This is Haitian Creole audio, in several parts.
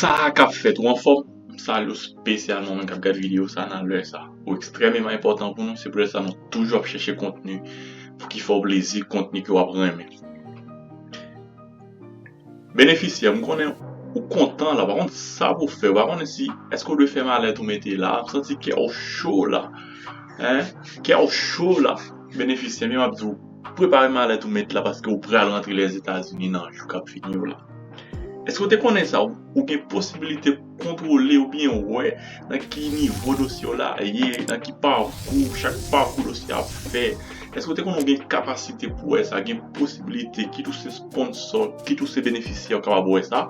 Sa kap fèt ou anfòm? M salye w spesyalman ou menm kap gad video sa nan lè sa. Ou ekstrèmeman enpòtan pou nou, se poutèt sa nou toujou ap chèche kontni pou ki fè w plezi, kontni ke wap renmen. Benefisyè, m konnen ou kontan la, pa konn sa pou w fè, ou pa konnen si èske ou dwe fè malèt ou mete la, m santi kè w cho la, kè w cho la, benefisyè, men map di w. Prepare malèt ou met la paske ou pral rantre Lèzetazini nan jou kap vini yo la. Èske ou te konnen sa? Ou gen posibilite kontwole oubyen wè nan ki nivo dosye w la ye, nan ki pakou chak pakou dosye a ap fè. Èske ou te konnen ou gen kapasite pou wè sa, gen posibilite kit ou se sponsò, kit ou se benefisyè ou kapab wè sa?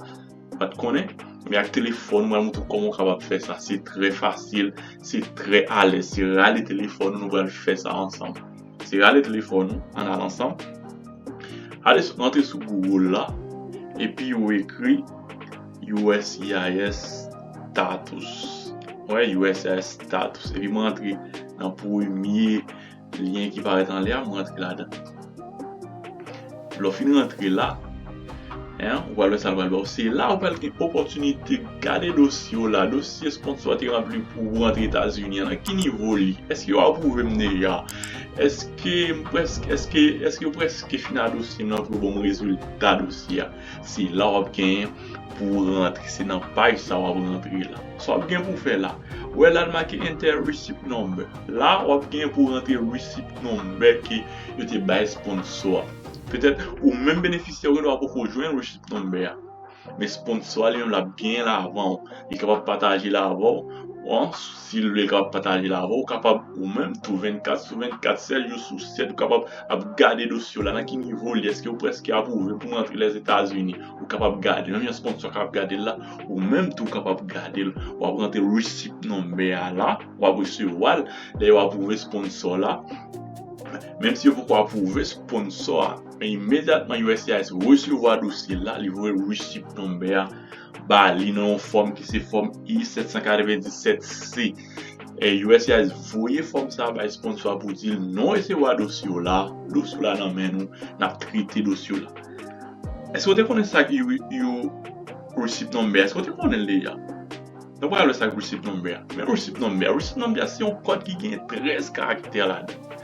Pat konnen, men ak telefòn mwen moutre w kòman ou kapab fè sa, se trè fasil, se trè alèz, se rale telefòn ou nou pral fè sa ansanm. Se rale telefòn ou, an al ansanm, ale sou antre sou Google la, epi ou ekri uscis status, wè uscis status, epi mwen antre nan premye. Lyen ki parèt anlè a, m rantre ladan l. Lè w fin rantre la, ou pral wè sa l pral ba w. Se la ou pral gen opòtinite gade dosye w la, dosye sponsò a te ranpli pou ou rantre Etazini a, nan ki nivo li, èske yo apwouve m deja, èske yo prèske fin a dosye m lan pou yo ban m rezilta dosye a. Se la wap gen pou rantre. Se nan paj sa wap rantre la. Sa wap gen pou fè la. Ou wè la li make enter receipt number. La wap gen pou rantre receipt number ke yo te bay sponsor a. Petèt ou menm benefisyè ou genlwa poko jwenn receipt number a. Men sponsor a li menm lap genyen l avan ou. Li kapab pataje l avè w. Si lule kapab pataje l avè w, ou kapab ou menm tou 24 sou 24, 7 jou sou 7, ou kapab ap gade dosye w la, nan ki nivo li, èske ou prèske apwouve pou rantre Lèzetazini, ou kapab gade l, menm jan sponsò kapab gade l la, ou menm tou kapab gade l, w ap rantre receipt number a la, w ap resevwa l, lè yo apwouve sponsò la, menm si yo poko apwouve sponsò a, men imedyatman uscis resevwa dosye l la, li voye receipt number a. ba li nan yon fòm ki se fòm I-797 C. Uscis voye fòm sa bay sponsò a pou di l non resevwa dosye w la, dosye w la nan men nou, n ap trete dosye w la. Èske w te konnen sa k yon Receipt Number? Èske w te konnen l deja? Nou pral wè sa k Receipt Number a. Men Receipt Number a. Receipt Number a se yon kòd ki gen 13 karaktè ladan l.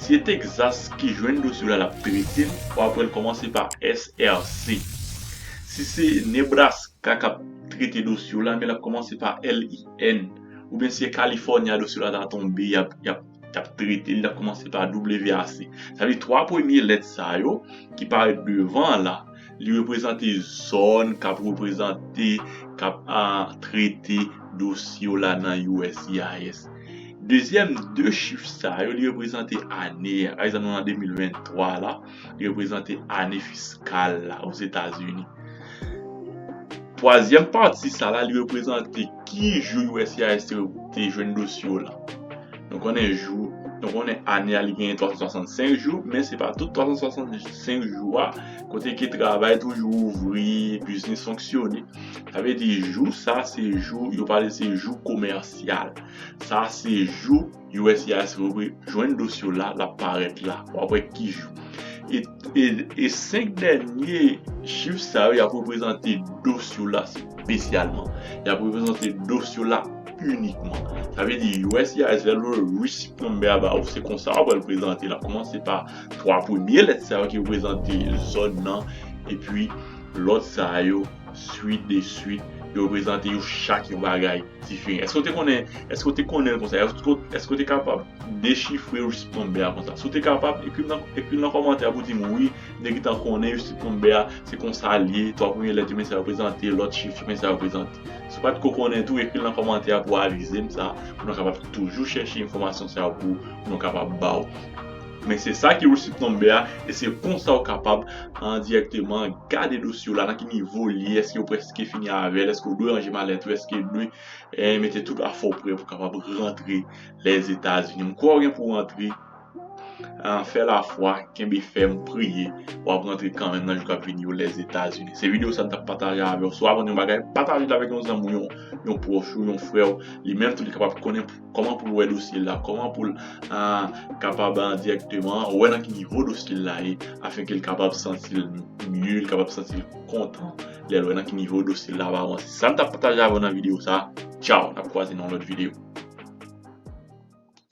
Si se Texas ki jwenn dosye w la l ap trete l pou apre l kòmanse pa SRC. Si se Nebraska k ap trete dosye w la men l ap kòmanse pa LIN. Oubyen si se California dosye w la ta tonbe y ap y ap y ap trete l l ap kòmanse pa WAC. Sa vle di 3 premye lèt sa yo ki parèt devan an la. Li reprezante zòn kap reprezante, kap trete dosye yo la nan uscis. Dezyèm, de chif sa yo li reprezante ane a. Pa egzanp nou nan 2023 la, li reprezante ane fiskal la Ozetazini. Twazyèm pati sa la li reprezante. Ki jou uscis te te jwenn dosye w lan? Nou konnen jou, nou konnen ane a li genyen 365 jou, men se pa tout 365 jou a kote ke travay toujou ouvri, biznis fonksyone. Sa vle di jou sa se jou, yo pale se jou komèsyal. Sa se jou. USCIS revwe jwenn dosye w la, l ap parèt la. W ap wè ki jou. E 5 dènye chif sa yo, y ap reprezante dosye w la spesyalman. Y ap reprezante dosye w la inikman. Sa vle di USCIS lè l voye receipt number a ba ou, se konsa ou pral prezante. L ap kòmanse pa 3 premye lèt sa yo ki reprezante zòn nan, epi lòt sa yo, swit de swit, yo reprezante yo chak yon bagay. Tifi, eske ou te konnen, eske ou te konnen l konsa, eske ou te kapab dechifre Eustip Lambert a konsa? Si ou te kapab, ekri m nan kòmantè pou di m wi, m te gentan konnen Eustip Lambert a, se konsa l ye, 3 premye lèt yo men sa yo reprezante, lòt chif yo men sa yo reprezante. Si ou pa t ko konnen tou, ekri l nan kòmantè pou avize m sa, pou nou kapab toujou chèche enfòmasyon sa yo pou nou kapab ba ou. Men se sa ki receipt number a e se konsa ou kapab endirekteman gade dosye w la nan ki nivo l ye, èske ou prèske fini avè l, èske ou dwe ranje malèt ou, èske ou dwe mete tout afè w prè pou kapab rantre Lèzetazini. M kwè ou gen pou w rantre, fè lafwa, kenbe fèm, priye, w ap rantre kanmenm nan jou k ap vini yo Lèzetazini. Se videyo sa m t ap pataje avè w. Si w aprann yon bagay, pataje l avèk yon zanmi w, yon pwòch ou, yon frè w, li menm tou li kapab konnen. Kòman pou l wè dosye l la, kòman pou l kapab dirèkteman wè nan ki nivo dosye l la ye afenke l kapab santi l mye, l kapab santi l kontan lè l wè nan ki nivo dosye l la ap avanse. Se sa m t ap pataje avè w nan videyo sa a. Tchaw! N ap kwaze nan yon lòt videyo.